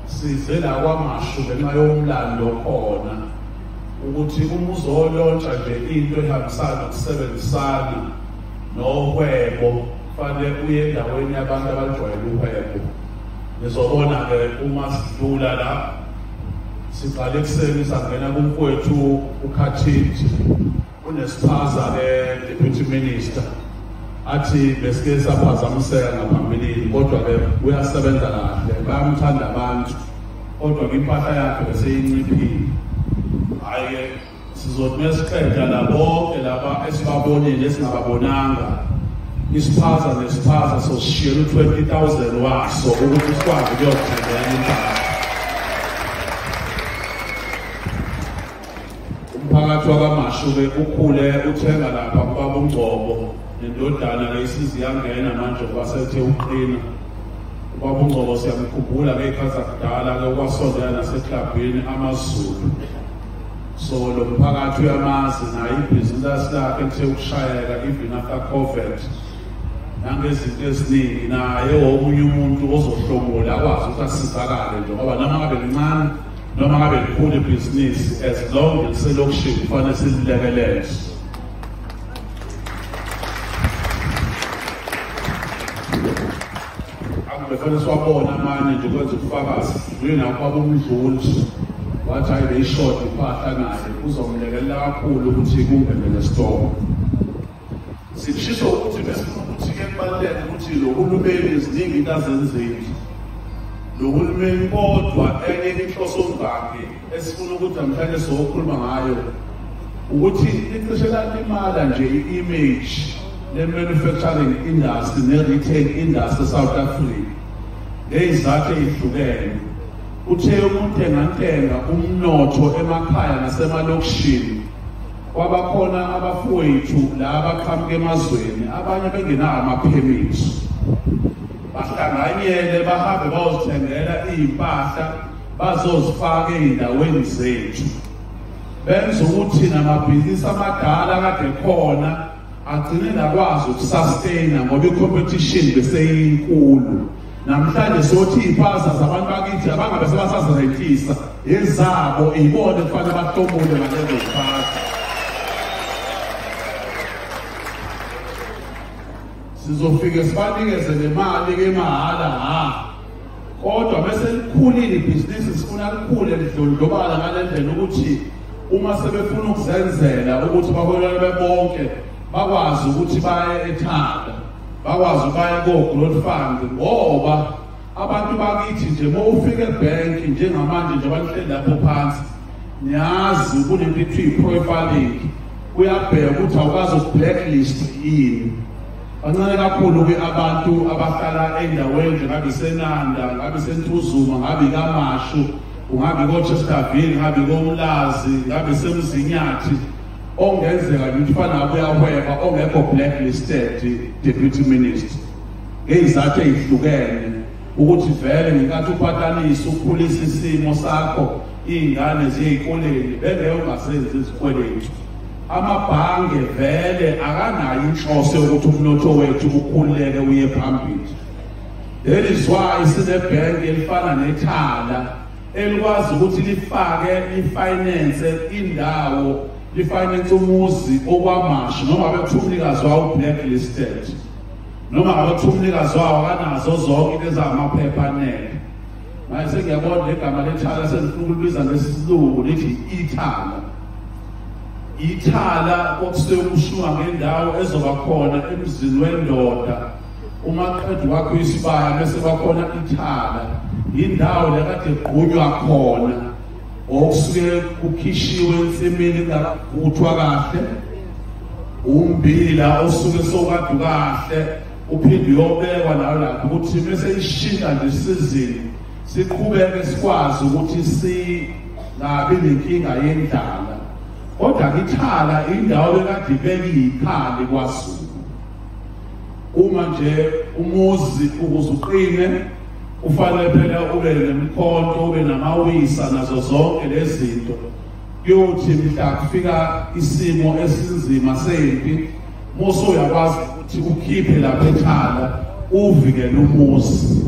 Size la kwamashu ngenxa yomlando okhona ukuthi uma uzolontsha nje into ehambisana nokusebenzisana nohwebo kufanele uye endaweni yabantu abajwayele uhwebo nizobona-ke uma sidlula la siqale ekuseni sangena kumfowethu ukhathinji Unesiphaza ke deputy minister athi besike saphazamiseka ngaphambilini kodwa ke uyasebenza kahle bayamthanda abantu kodwa kwimpahla yakhe beseyinciphile hhayi-ke sizothi mesiqeda la bonke laba esibabonile esingababonanga isiphaza nesiphaza sosishiyela u-twenty thousand waso ukuthi sikwazi ukuyothengela impahla umphakathi wakamashuke ukhule uthenga lapha kubaba ungcobo nendodana ke isizi yangena manje ngoba sethe uqina ubaba ungcobo siyamkhumbula ngey'khathi zakudala ke ukwasondela naseklabhini amazulu so lo mphakathi uyamazi naye ibhizinisi lakhe kuthe ukushayeka even after covid nangezinto eziningi naye omunye umuntu ozohlomula akwazi ukuthi asizakale nje ngoba noma ngabe lincane noma ngabe likhulu ibhizinisi as long liselokishini kufanele sililekelele akubefanele siwabona amanye nje kwenza ubufakazi uyinakho abomdluli wathi hayi beyishodi impahla naye kuzomlekelela kakhulu ukuthi kungenele sitoko Sishisho ukuthi besifuna ukuthi ke kubaluleke ukuthi lo hulumeni eziningi into azenzeli lo hulumeni kodwa enye inhloso zakhe esifuna ukuthi namhlanje sokhuluma ngayo ukuthi icishe lalimala nje i-image le-manufacturing industry ne-retail industry south africa ngeyizathu eyihlukene uthe umuntu engantenga umnotho emakhaya nasemalokishini Kwabakhona abafowethu la abaqhamuka emazweni abanye bengenawo amaphemithi bahlanganyele bahambe bayozithengela iy'mpahla bazozifaka ey'ndaweni zethu benza ukuthi namabhizinisi amadala kade khona agcine nakwazi ukusustaina ngoba i-competition beseyinkulu namhlanje sothi iy'pasa zabantu bakithi abangabe sebasazirentisa ezabo ibona kufanele bahlomule ngalezo zipasa sizofike sibanikeze nemali kemahhala ha kodwa bese likhulile ibhizinisi sifuna likhule lidlondlobala ngale ndlela ukuthi uma sebefuna ukuzenzela ukuthi bakwelele bebonke bakwazi ukuthi baye ethanda bakwazi baye ko-growth fund ngoba abantu bakithi nje uma ufika ebhenki njengamanje nje abanihleli lapho phansi niyazi kunento kuthiwa i-profiling kuyabheka ukuthi awukazi uku-blacklist yini bancane kakhulu-ke abantu abahlala endaweni nje ngabe isenanda ngabe isentuzuma ngabe ikamashu ungabe kochesterville ngabe komlazi ngabe semzinyathi ongenzeka ukuthi fanabo uyahweba ongekho blacklisted deputy minister ngeyizathu ezihlukene ukuthi vele ngenkathi uphatanisa ukhulisa isimo sakho iy'ngane ziyeyikoleni bengeke ungasenzi izikweletu amabhange vele akanayo inhloso yokuthi umnotho wethu ukhululeke uye phambili leli zwayi sinebhenki elifana nethala elikwazi ukuthi lifake lifinance indawo lifinance umuzi okwamashi noma bekuthiwa umnikazi wawo blacklisted noma ngabethi umnikazi wawo kanazo zonke into ezamaphepha anele manje sengiyabona legama lethala sengifuna ukulibiza ngesilungu lithi ithala ithala kokusekushiwa ngendawo ezoba khona emzini wendoda uma qeda wakho isibaya bese kwakhona ithala indawo lekade gqunywa khona okusuke kukhishiwe ensimini kungakavuthwa kahle umbila osuke sokade kahle uphinde uyobekwa nayo lapho ukuthi bese ishintsha nje isizini siqhubeke sikwazi ukuthi singabi nenkinga yendlala kodwa kithala indawo bekade ibekiyikhala kwaZulu uma nje umuzi ukuze uqine kufanele phela ube nemkhonto ube namawisa nazo zonke lezinto kuyothi mhla kufika isimo esinzima sempi muso uyakwazi ukuthi ukhiphe lapha ethala uvikele umuzi